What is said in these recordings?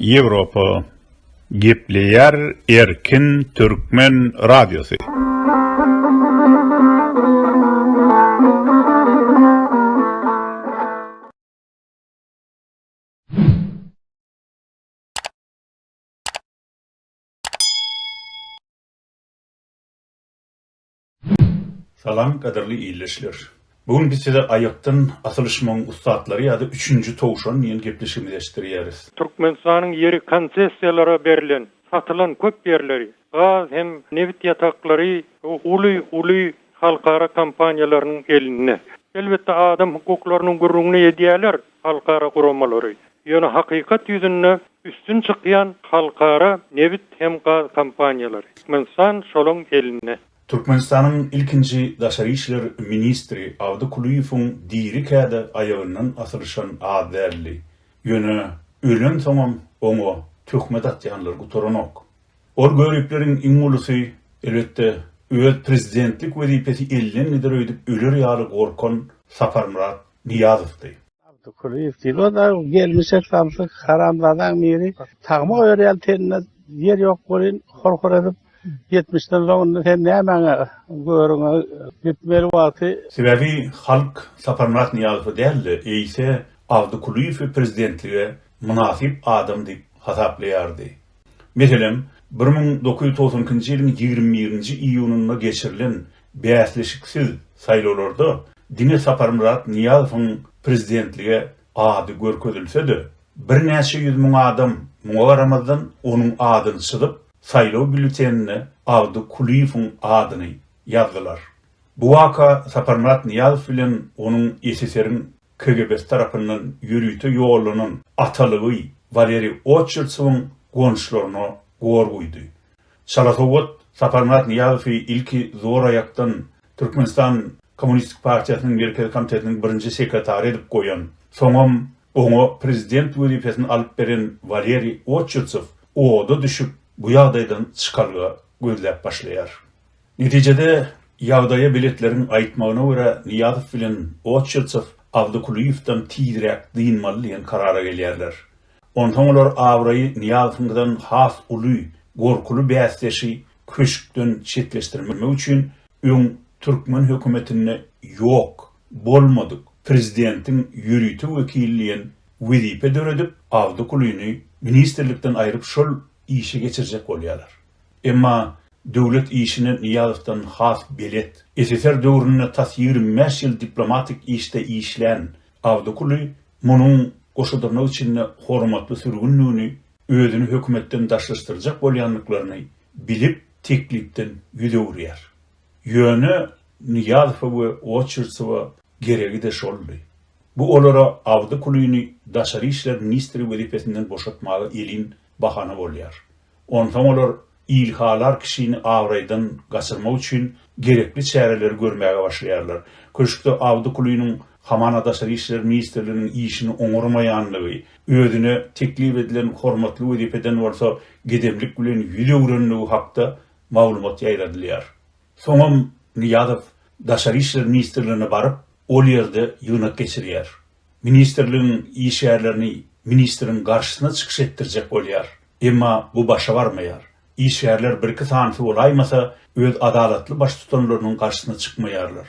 Ýewropa gepleýär erkin türkmen radiosy. Salam gadyrly illeşler. Bu gün biz size aýakdan asylyşmagyň ussatlary ýa-da üçünji towşan diýen gepleşigimizi eşitdirýäris. Türkmenistanyň ýeri konsessiýalara berlen, satylan köp ýerleri, gaz hem nebit ýataklary uly, uly halkara kompaniýalarynyň elinde. Elbetde adam hukuklarynyň gürrüňini edýäler, halkara guramalary, ýöne hakykat ýüzünde üstün çykýan halkara nebit hem gaz kompaniýalary. Türkmenistan şolaň elinde. Türkmenistanyň ilkinji daşary işler ministri Abdy Kulyýewiň diri kädi aýagyndan asylyşan az däldi. Ýöne ölensoňam oňa töhmet atýanlar gutaranok. Ol göripleriň iň ulusy, elbetde, öz prezidentlik wezipesi elden gider öýdüp öler ýaly gorkan Saparmyrat Nyýazowdy. Abdy Kulyýew diýdi. O-da gelmişek samsyk haramzadaň biri. Tagma goýar ýaly teninde ýer ýok welin, hor-hor edip, ýetmişden soň indi sen nämäňe göwrüňe gitmeli wagty. Sebäbi halk Saparmyrat Nyýazowy däl-de, eýse Abdy Kulyýewi prezidentlige mynasyp adam diýip hasaplaýardy. Meselem, bir müň dokuz ýüz togsan ikinji ýylyň ýigrimi birinji iýunynda geçirilen bäsleşiksiz saýlawlarda diňe Saparmyrat Nyýazowyň prezidentlige ady görkezilse-de, birnäçe ýüz müň adam muňa garamazdan onuň adyny çyzyp, saýlaw býulletenine Agdy Kulyýewiň adyny ýazdylar. Bu waka Saparmyrat Nyýazow bilen onuň SSR-iň KGB-si tarapyndan ýörite ýollanan atalygy Waleriý Oçertsowyň gonuşlaryna gor guýdy. Çala sowgat Saparmyrat Nyýazowy ilki zor aýakdan Türkmenistan Kommunistik partiýasynyň Merkezi komitetiniň birinji sekretary edip goýan, soňam oňa prezident wezipesini alyp beren Waleriý Oçertsow oda düşüp, bu ýagdaýdan çykalga gözläp başlaýar. Netijede, ýagdaýa beletleriň aýtmagyna görä, Nyýazow bilen Otçiltsow Awdykulyýewden tizräk dynmaly diýen karara gelýärler. Onsoň olar abraýy Nyýazowyňkydan has uly Gorkuly bäsdeşi köşkden çetleşdirmek üçin öň türkmen hökümetinde ýok, bolmadyk prezidentiň ýörite wekili diýen wezipe döredip, Awdykulyny ministrlikden aýryp şol işe geçirjek bolýarlar. Emma döwlet işine Nyýazowdan has belet, SSR döwründe tas ýigrimi bäş ýyl diplomatik işde işlän Awdykuly munuň goşadyrnak içinde hormatly sürgündigini, özüni hökümetden daşlaşdyrjak bolýandyklaryny bilip, teklipden ýüz öwürýär. Ýöne Nyýazowa we Oçertsowa geregi-de şoldy. Bu olara Awdykulyny daşary işler ministri wezipesinden boşatmaga elin bahana bolýar. Onsoň olar ilhalar kişini abraýdan gaçyrmak üçin gerekli çäreleri görmäge başlaýarlar. Köşkde Awdykulynyň hamana Daşary işler ministrliginiň işini oňarmaýandygy, özüne teklip edilen hormatly wezipeden bolsa gedemlik bilen ýüz öwrendigi hakda maglumat ýaýradylýar. Soňam Nyýazow Daşary işler ministrligine baryp, ol ýerde ýygnak geçirýär. Ministrligiň işgärlerini ministriň garşysyna çykyş etdirjek bolýar. Emma bu başa barmaýar. Işgärler birki sanysy bolaýmasa, öz adalatly baştutanlarynyň garşysyna çykmaýarlar.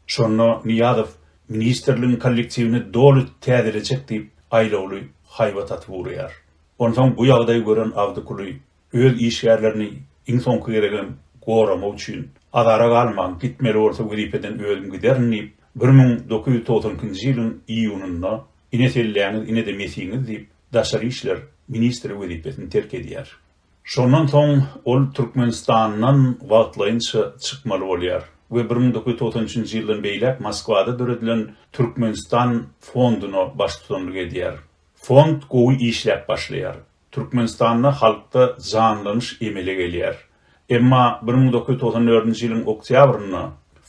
Şonda Nyýazow ministrligiň kollektiwini doly täzelejek diýip, aýlawly haýbat atyp ugraýar. Onsoň bu ýagdaýy gören Awdykuly öz işgärlerini iň soňky gezegem goramak üçin azara galman gitmeli bolsa wezipeden özüm giderin diýip bir müň dokuz ýüz togsan ikinji ýylyň iýunynda ine selläňiz inede mesiňiz diýip daşary işler ministri wezipesini terk edýär. Şondan soň ol Türkmenistandan wagtlaýynça çykmaly bolýar we bir müň dokuz ýüz togsan üçünji ýyldan beýläk Moskwada döredilen Türkmenistan fonduna baştutanlyk edýär. Fond gowy işläp başlaýar. Türkmenistanda halkda janlanyş emele gelýär. Emma bir müň dokuz ýüz togsan dördünji ýylyň oktýabrynda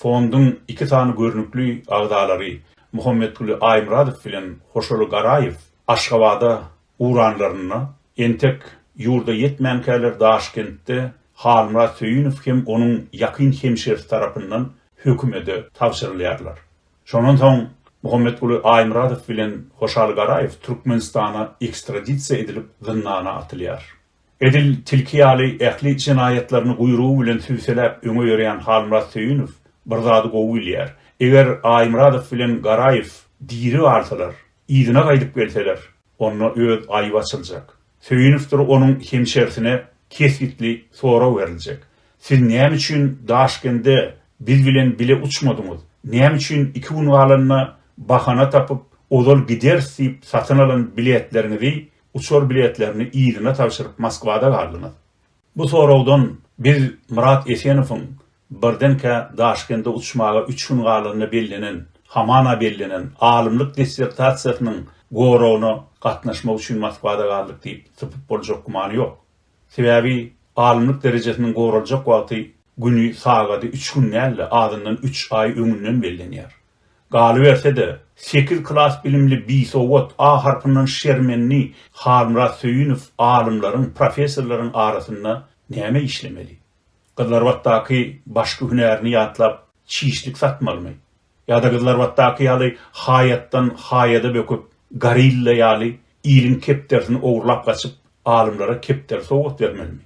fonduň iki sany görnükli agzalary Muhammetguly Aýmyradow bilen Hoşaly Garaýew Aşgabada ugranlarynda, entek ýurda ýetmänkäler Daşkentde Halmyrat Söýünow hem onuň ýakyn hemşerisi tarapyndan hökümede tabşyrylýarlar. Şondan soň Muhammetguly Aýmyradow bilen Hoşal Garaýew Türkmenistana ekstradisiýa edilip zyndana atylýar. Edil tilki ýaly ähli jenaýatlaryny guýrugy bilen sübseläp öňe ýörýän Halmyrat Söýünow bir zady gowy bilýär, eger Aýmyradow bilen Garaýew diri galsalar, yzyna gaýdyp gelseler, Onda öz aýby açyljak. Söýünowdyr onuň hemşersine kesgitli sorag beriljek. Siz näme üçin Daşkende biz bilen bile uçmadyňyz? Näme üçin iki gün galanda bahana tapyp, ozal gideris diýip satyn alan biletleriňizi, uçar biletlerini yzyna tabşyryp Moskwada galdyňyz? Bu soragdan biz Myrat Esenowyň Birdenkä Daşkende uçmaga üç gün galanda bellenen, hamana bellenen, alymlyk dissertasiýasynyň goragyna gatnaşmak üçin Moskwada galdyk diýip sypyp boljak gümany ýok. Sebäbi alymlyk derejesiniň goraljak wagty, güni, sagady üç gün däl-de, azyndan üç aý öňünden bellenýär. Galyberse-de, sekiz klas bilimli bisowat, A harpyndan şermenli Halmyrat Söýünow alymlaryň, professorlaryň arasynda näme işlemeli? Gyzlarbatdaky başky hünärini ýatlap çişlik satmalymy? Ýa-da Gyzlarbatdaky ýaly haýatdan haýada böküp, gorilla ýaly iliň kepderisini ogurlap gaçyp, alymlara kepderi sowgat bermelimi?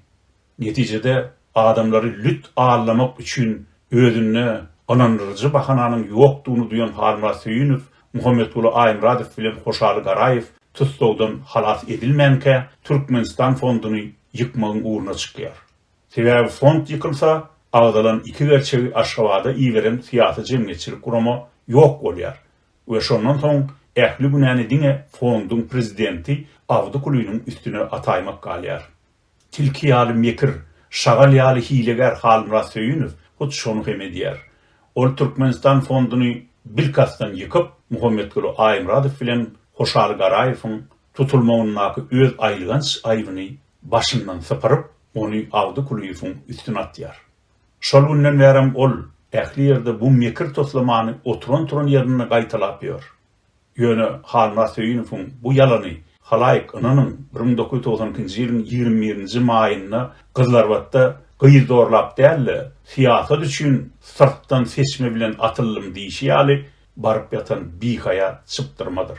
Netijede adamlary lüt allamak üçin özünde ynandyryjy bahananyň ýokdugyny duýan Halmyrat Söýünow, Muhammetguly Aýmyradow bilen Hoşaly Garaýew tussagdan halas edilmänkä Türkmenistan fonduny ýykmagyň ugruna çykýar. Sebäbi fond ýykylsa, agzalan iki gerçegi Aşgabada iberen syýasy-jemgyýetçilik gurama ýok bolýar we şondan soň ähli günäni diňe fonduň prezidenti Abdy Kulynyň üstüne ataýmak galýar. Tilki ýaly mekir, şagal ýaly hilegär Halmyrat Söýünow hut şony hem edýär. Ol Türkmenistan fonduny bilkastdan ýykyp, Muhammetguly Aýmyradow bilen Hoşaly Garaýewiň tutulmagyndaky öz aýylganç aýbyny başyndan sypyryp, ony Agdy Kulyýewiň üstüne atýar. Şol günden bärem ol ähli ýerde bu mekir toslamany oturan-turan ýerinde gaýtalap ýör. Ýöne Halmyrat Söýünowyň bu ýalany halaýyk, ynanyň, bir müň dokuz ýüz togsan ikinji ýylyň ýigrimi birinji maýynda Gyzlarbatda gyz zorlap däl-de, syýasat üçin syrtdan seçme bilen atyldym diýşi ýaly baryp ýatan bihaýa çypdyrmadyr.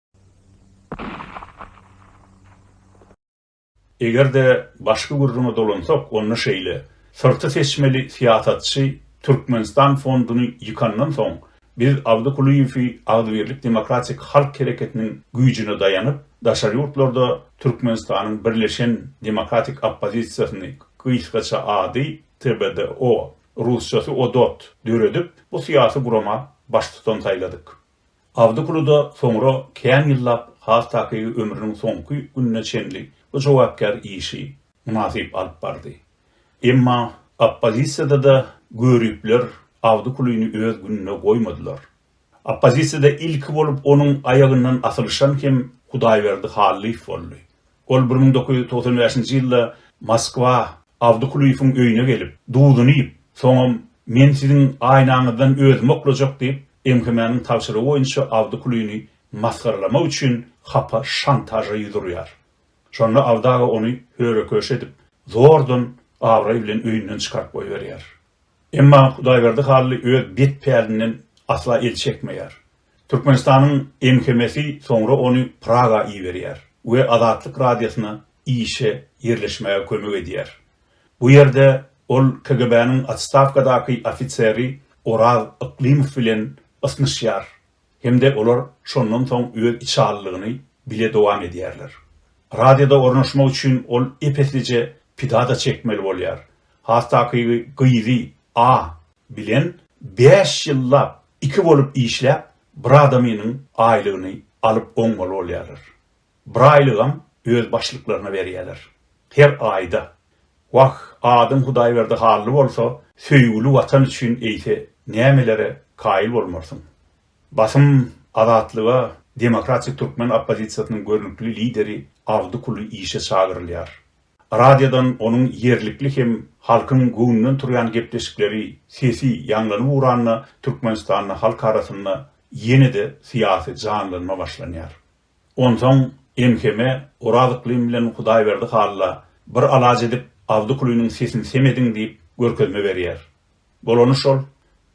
Eger-de başky gürrüňe dolansak, onda şeýle, Syrty seçmeli syýasatçy Türkmenistan fonduny ýykandan soň, biz Abdy Kulyýewi Agzybirlik demokratik halk hereketiniň güýjüne daýanyp, daşary ýurtlarda Türkmenistanyň birleşen demokratik oppozisiýasyny, gysgaça ady, TBDO, rusçasy Odot, döredip, bu syýasy gurama baştutan saýladyk. Awdykulyda soňra kän ýyllap has takygy ömrüniň soňky gününe çenli bu jogapkär işi mynasyp alyp bardy. Emma oppozisiýada-da göripler Awdykulyny öz gününe goýmadylar. Oppozisiýada ilki bolup onuň aýagyndan asylyşan hem Hudaýberdi Hallyýew boldy. Ol bir müň dokuz ýüz togsan bäşinji ýylda Moskwa Awdykulyýewiň öýüne gelip, duzuny iýip, soňam Men siziň aýnaňyzdan özümi oklajak diýip, MHM-niň tabşyrygy boýunça Awdykulyny masgaralamak üçin hapa şantaža ýüz urýar. Şonda Awdy aga ony höre-köşe edip, zordan abraý bilen öýünden çykaryp goýberýär. Emma Hudaýberdi Hally öz bet pälinden asla el çekmeýär. Türkmenistanyň MHM-si soňra ony Praga iberýär we Azatlyk Radiosyna işe ýerleşmäge kömek edýär. Bu ýerde ol KGB-niň otstawkadaky ofiseri Oraz Yklymow bilen ysnyşýar hem-de olar şondan soň öz içalylygyny bile dowam edýärler. Radioda ornaşmak üçin ol ep-eslije pida-da çekmeli bolýar, has takygy gyzy A. bilen bäş ýyllap Iki bolup işläp bir adamynyň aýlygyny alyp oňmaly bolýarlar. Bir aýlygam öz başlyklaryna berýärler. Her aýda. Wah, adyň Hudaýberdi Hally bolsa, söýgüli Watan üçin eýse nämelere kaýyl bolmarsyň. Basym Azatlyga Demokratik türkmen oppozisiýasynyň görnükli lideri Abdy Kuly işe çagyrylýar. Radiodan onuň ýerlikli hem halkyň göwnünden turýan gepleşikleri, sesi ýaňlanyp uranda Türkmenistanda halk arasynda ýene-de syýasy janlanma başlanýar. Onsoň MHM-e Oraz Yklym bilen Hudaýberdi Halla bir alaç edip Abdykulynyň sesini sem ediň diýip görkezme berýär. Bolany şol,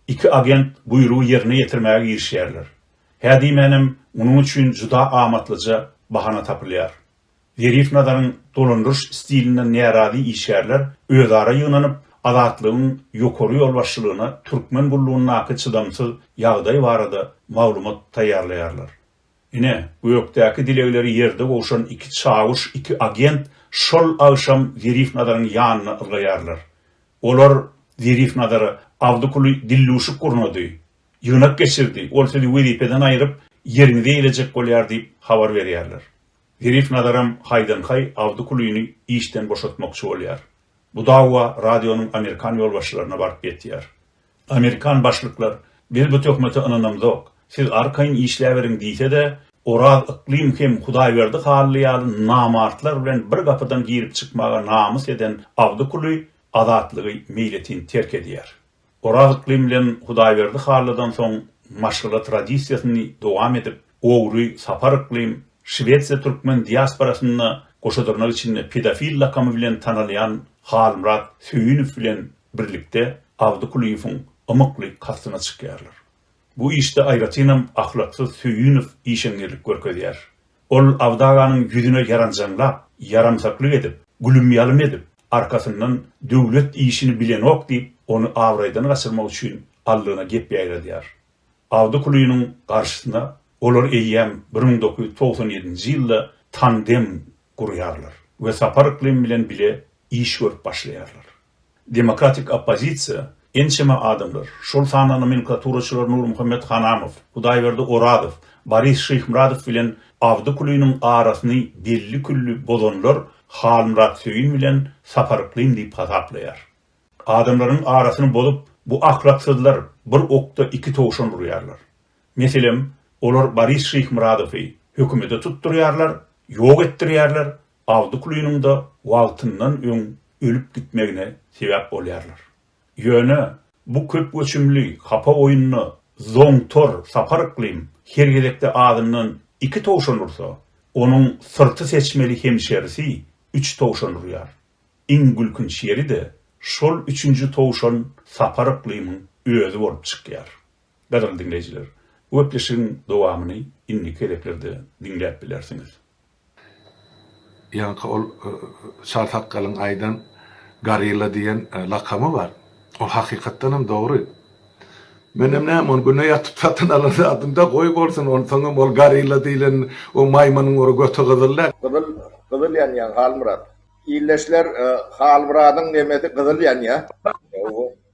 iki agent buýrugy ýerine ýetirmäge girişýärler. Hä diýmänem munuň üçin juda amatlyja bahana tapylýar. Zerif Nazaryň dolandyryş stilinden närazy işgärler özara ýygnanyp, Azatlygyň ýokary ýolbaşçylygyna türkmen gullugyndaky çydamsyz ýagdaý barada maglumat taýýarlaýarlar. Ine, gökdäki dilegleri ýerde gowşan iki çawuş, iki agent şol agşam Zerif Nazaryň ýanyna ylgaýarlar. Olar Zerif Nazara Abdykuly dilluşyk gurnady, ýygnak geçirdi, ol sizi wezipeden aýryp, ýeriňize eýlejek bolýar diýip habar berýärler. Zerif Nazaram haýdan-haý Abdy Kulyny işden boşatmakçy bolýar. Bu dawa radionyň amerikan ýolbaşçylaryna baryp ýetýär. Amerikan başlyklar biz bu töhmete ynanamzok, siz arkaýyn işläberiň diýse-de, Oraz Yklym hem Hudaýberdi Hally ýaly namartlar bilen bir gapydan girip-çykmaga namys eden Abdy Kuly Azatlygy meýletin terk edýär. Oraz Ykly bilen Hudaýberdi Hallydan soň maşgala tradisiýasyny dowam edip, ogry Sapar Ykly Şwesiýa türkmen diasporasynda goşadyrnak içinde pedofil lakamy bilen tanalýan Halmyrat Söýünow bilen birlikde Abdy Kulyýewiň ymykly kastyna çykýarlar. Bu işde aýratynam ahlaksyz Söýünow işeňňirlik görkezýär. Ol Abdy aganyň ýüzüne ýaranjaňlap, ýaramsaklyk edip, gülüm-ýalym edip, arkasyndan Döwlet işini bilenok diýip, ony abraýdan gaçyrmak üçin Allyna gep ýaýradýar. Abdy Kulynyň garşysyna olar eýýäm bir müň dokuz ýüz togsan ýedinji ýylda tandem gurýarlar we Sapar yklym bilen bile iş görüp başlaýarlar. Demokratik oppozisiýa, ençeme adamlar, şol sanda nomenklaturaçylar Nurmuhammet Hanamow, Hudaýberdi Orazow, Boris Şyhmyradow bilen Abdy Kulynyň arasyny belli-külli bozanlar Halmyrat Söýün bilen Sapar Yklym diýip hasaplaýar. Adamlaryň arasyny bozup, bu ahlaksyzlar bir okda iki towşan urýarlar. Meselem, olar Boris Şyhmyradowy hökümede tutdurýarlar, ýok etdirýärler, Awtoklyunyňda wagtyndan öň ölüp gitmegine sebäp bolýarlar. Ýöne bu köp göçümli hapa oýunda zoňtor Sapar Yklym her gezekde azyndan iki towşan ursa, onuň syrty seçmeli hemşerisi üç towşan urýar. Iň gülkünç ýeri-de, şol üçünji towşan Sapar Yklymyň özi bolup çykýar. Gadyrly diňleýjiler, bu gepleşigiň dowamyny indiki gezeklerde diňläp bilersiňiz. Ýaňky ol Çar sakgalyň aýdan Gorilla diýen lakamy bar. Ol hakykatdan hem dogry. Menem näme ony güne ýatyp satyn alan zadymda goý bolsun, onsoň hem ol Gorilla diýlen o maýmynyň ora göti gyzyl däl. Gyzyl gyzyl ýanýaň Halmyrat. Ildeşler Halmyradyň nemesi gyzyl ýanýa.